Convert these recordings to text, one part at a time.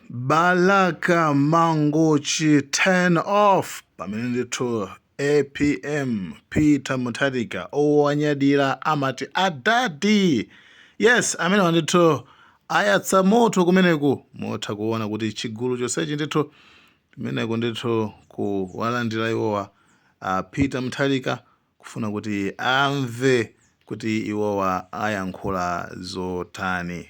Balaka Mangochi turn off pamene ndithu apm Peter Mutharika owanyadira amati adadi yes amenewa ndithu ayatsa moto kumeneku mutha kuona kuti chigulu chonsechi ndithu kumeneko ndithu kuwalandira iwowa a Peter Mutharika kufuna kuti amve kuti iwowa ayankhula zotani.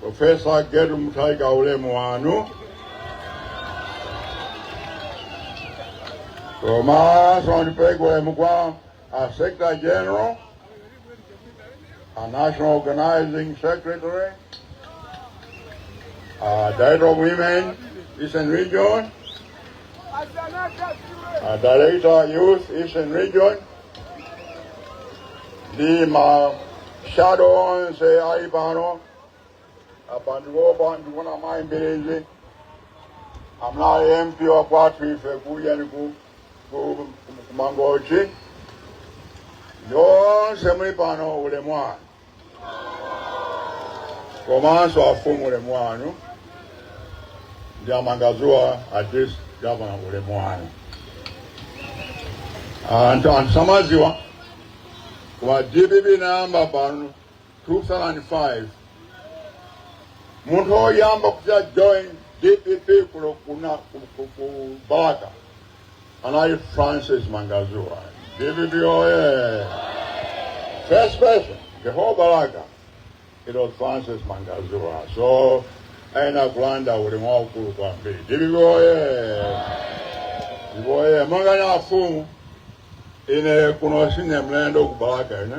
Profesa Gertrude Mutharika ulemu wanu komanso ndipeleke ulemu kwa a Secretary General a National Organizing Secretary a Director of Women Eastern Region a Director Youth Eastern Region ndi ma shadow onse ali pano apa ndikuo- apa ndikuona mayi Mbilizi amene ali mp wa kwathu ife kuja ni ku- ku- ku- ku Mangochi yonse muli pano ulemu wanu komanso afumu ulemu wanu ndi a Mangazuwa a district gavana ulemu wanu anthu anthu samaziwa kuti dpp inayamba pano 2005 munthu oyamba kuja join dpp kuno kuna ku- ku- ku balaka Anali Francis Mangazuwa. DPP oye! First person, the whole Balaka, it was Francis Mangazuwa. So, ayenera kulandira ulemu waukulu kwambiri. DPP oye! DPP oye! Manganya afumu, ine kuno sine mlendo ku Balaka, ine.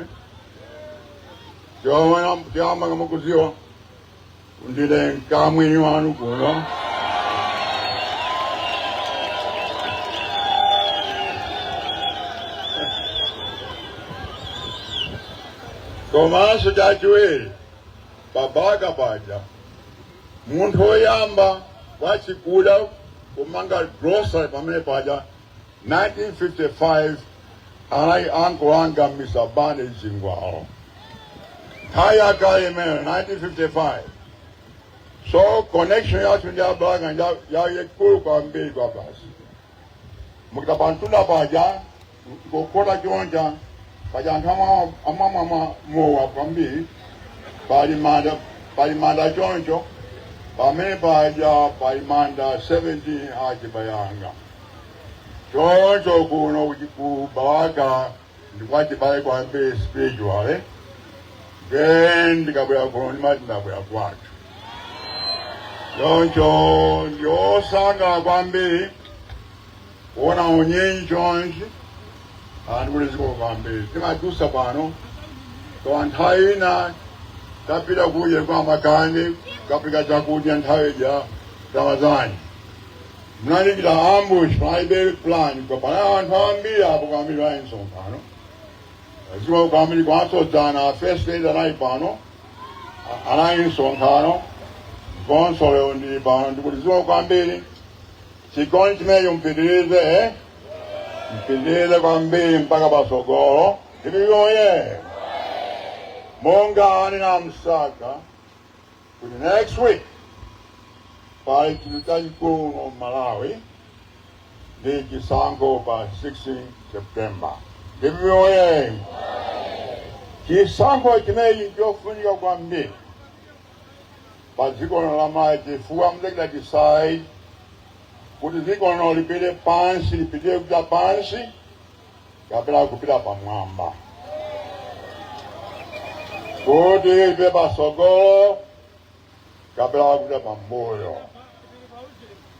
Choyamba mukuziwa. Kuti ndine mkamwini wanu kuno. Komanso chachiwiri pa Balaka paja munthu woyamba wachikuda kumanga grocery pamene paja 1955 anali ankolo anga mista Bane chingwalo nthawi yakale imene 1955 so connection yathu ndi a Balaka nja- ya- yaikulu kwambiri kwabasi mukapita pamtunda paja kokhota choncho paja anthu amwa- amamwamwa mowa kwambiri pali manda choncho pamene paja pali manda 17 achibale anga choncho kuno ku Balaka ndikwachibale kwambiri spiritually then ndikabwera kuno ndimati ndabwera kwathu choncho ndiosangala kwambiri kuona unyinji chonchi anthu ndikuti zikomo kwambiri timadusa pano pa nthawi ina tapita kuja kwa Makanjira kapereka chakudya nthawi ija Ramadhani Mnalikira ambush panalibe plan koma panali anthu ambiri apo kwambiri alinso pano zikomo kwambiri komanso dzana first day anali pano a- analinso pano komanso lero ndili pano ndikuti zikomo kwambiri chikondi chimenecho mpitirize eh? mpitirize kwambiri mpaka patsogolo DPP oye monga anena a Msaka kuti next week pali chinthu chachikulu kuno Malawi ndi chisankho pa 16 september DPP oye chisankho chimenechi nchofunika kwambiri pa dziko lino la malawi chifukwa muzachita decide kuti dziko lino lipite pansi lipite kuja pansi kapena kupita pamwamba kutipite pasogolo kapena kupita pambuyo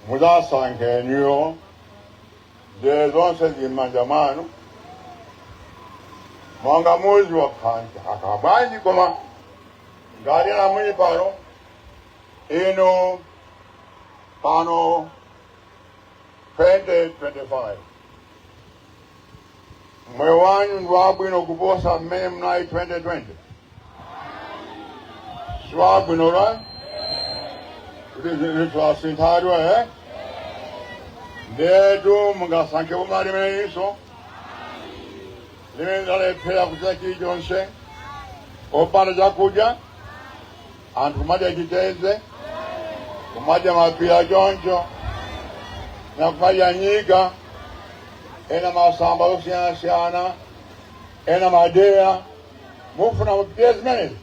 muzasankhe ndinuyo nde zonse zili mmanja mwanu mwanga muzivala nkhanza akabwanji koma ngati muli pano inu pano 2025 moyo wanu ndi wabwino kuposa mmene munali 2020 siwabwino right kuti zinthu zasintha eh ndetu mungasankhe boma limeneliso limene lalephera kuchita chilichonse opanda chakudya anthu kumadya chitedze kumadya mapira choncho na kumadya nyika ena masamba osiyanasiyana ena madeya mufuna mupitirize zimenezi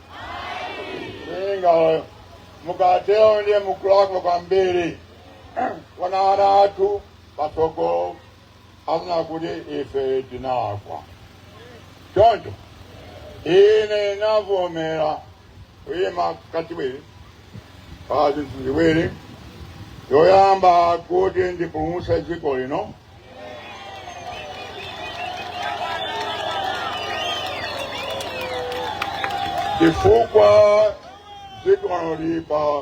inuyo mukatero ndiye mukulakwa kwambiri wana ana athu patsogolo adzanena kuti ife tinalakwa choncho ine navomera kuyima kachiwiri pa zinthu ziwiri yoyamba kuti ndipulumutse dziko lino chifukwa dziko lino lili pa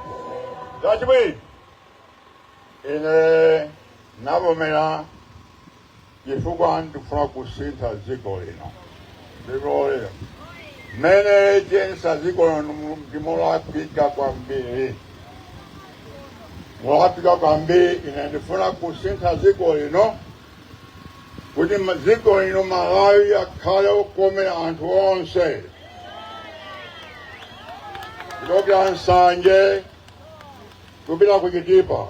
Chachiwiri, ine navomera chifukwa ndikufuna kusintha dziko lino dpp oye mmene ayendetsa dziko lino mu- ndi molakwika kwambiri molakwika kwambiri ine ndifuna kusintha dziko lino kuti dziko lino malawi akhale okomera anthu onse kuchokera nsanje kupita ku chitipa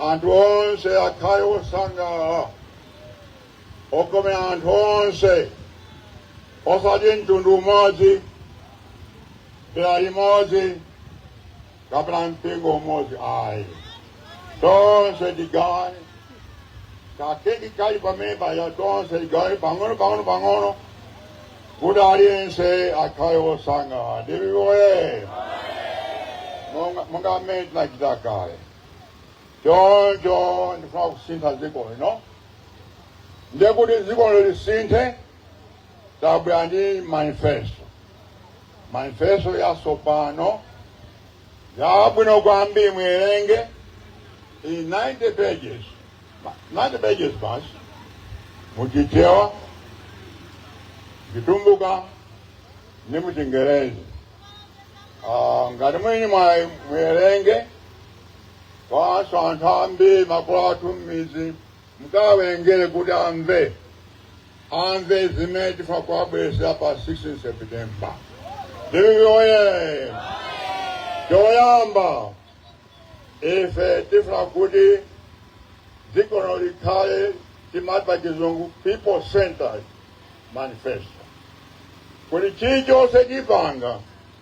anthu onse akhale osangalala okomera anthu onse osati mtundu umodzi dera limodzi kapena mpingo umodzi ayi tonse tigawane kakeki kali pamene paja tonse tigawane pang'ono pang'ono pang'ono kuti aliyense akhale wosangalala dpp oye monga monga mmene tinachita kale choncho ndifuna kusintha dziko lino ndiye kuti dziko lisinthe tabwera ndi manifesto manifesto yatsopano yabwino kwambiri muwerenge iyi 90 pages Ma- 90 pages basi muchichewa chitumbuka ndi muchingerezi Ah, ngati muli ndi mwayi muwerenge komanso anthu ambiri makolo athu m'midzi mukawawerengere kuti amve amve zimene tifuna kuwabweretsera pa 16 septemba dpp oye choyamba ife tifuna kuti dziko lino likhale timati pa chizungu people centered manifesto kuti chilichonse tipanga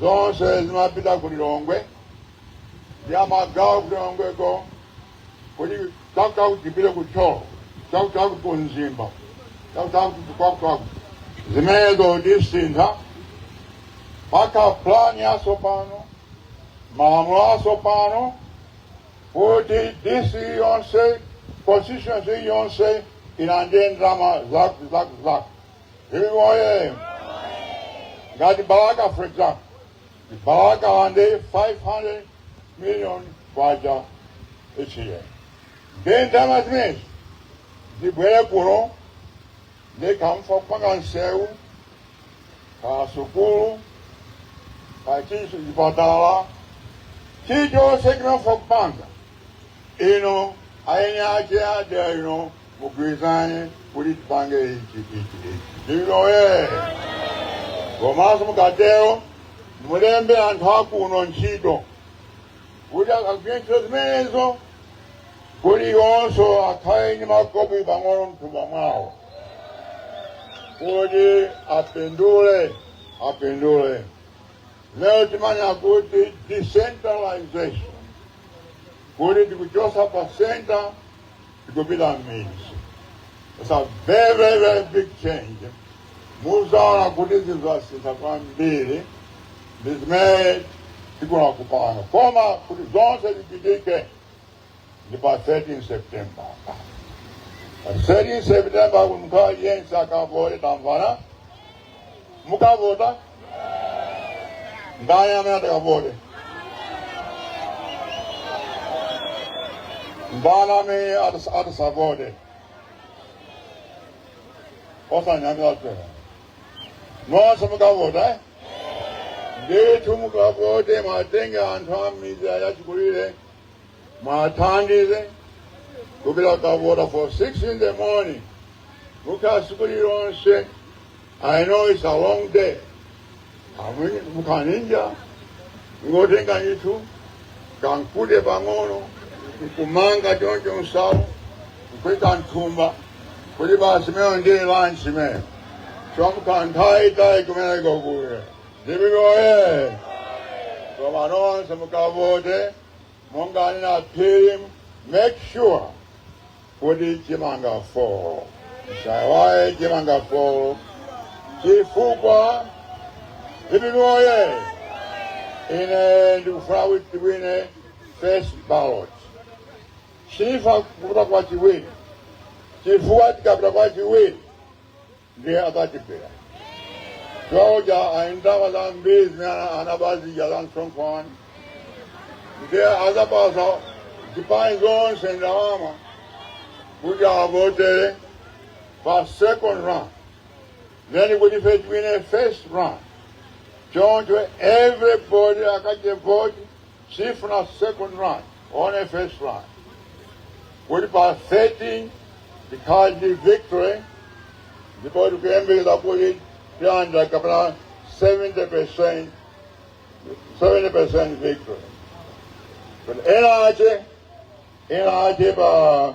zonse zimapita ku lilongwe ndi amagawo ku lilongweko kuti chakuchaku tipite ku tcholo chakuchaku ku mzimba chakuchaku tikwakuchaku zimenezo tisintha mpaka plani yatsopano malamulo atsopano kuti dc yonse constituency yonse ilandire ndalama zaku zaku zaku Vivoye! Ngati Balaka, for example, the Balaka one day 500 million kwacha each year. Then time has made. The Bwelekuro, they come for Panganseu, Kasukuru, Pachisu Ibatala, Chicho Signal for Panga. You know, I ain't out there, you know, mugwirizane kuti tipange ichi ichi ichi dpp oye komanso mukatero mulembe anthu akuno ntchito kuti akagwire ntchito zimenezo kuti iwonso akhale ndi makobiri pang'ono mthumba mwawo kuti apindule apindule lero timanena kuti decentralization kuti tikuchosa pa center tikupita m'mizi It's a very, very, very big change. Muzaona kuti zinthu zasintha kwambiri ndi zimene tikufuna kupanga koma kuti zonse zitheke ndi pa 13 september pa 13 september kuti munthu aliyense akavote tamvana mukavota ndani amene atakavote ndani amene atas- atasavote osanyamira pera nonse mukavota eh? ndithu mukavote muwatenge anthu a midzi achikulire muwathandize kupita kukavota for 6 in the morning mukhala tsiku lonse I know it's a long day. Amwene mukanyinya nkotenga ndithu kankute pang'ono nkumanga choncho nsalu nkuika mthumba kuti basi imeneyo ndiye lanchi imeneyo chifukwa mukhala nthawi yaitali kumeneko kuli ndi chikoka koma nonse mukavote monga anena a Phiri make sure kuti chimanga 4 musaiwale chimanga 4 chifukwa pano ine ndikufuna kuti tiwine first ballot sindifuna kupita kwa chiwiri chifukwa tikapita kwa chiwiri ndiye akatibera paja ali ndi ndalama zambiri zimene anaba zija za msonkho ndiye azapatsa zipani zonse ndalama kuti avotere pa second round then kuti ife tiwine first round choncho everybody akachite vote Sitifuna second round, one first round. Kuti pa 13 tikhale ndi victory ndipo tikuyembekeza kuti tilandira kapena 70% 70% victory. But ena ache ena ache pa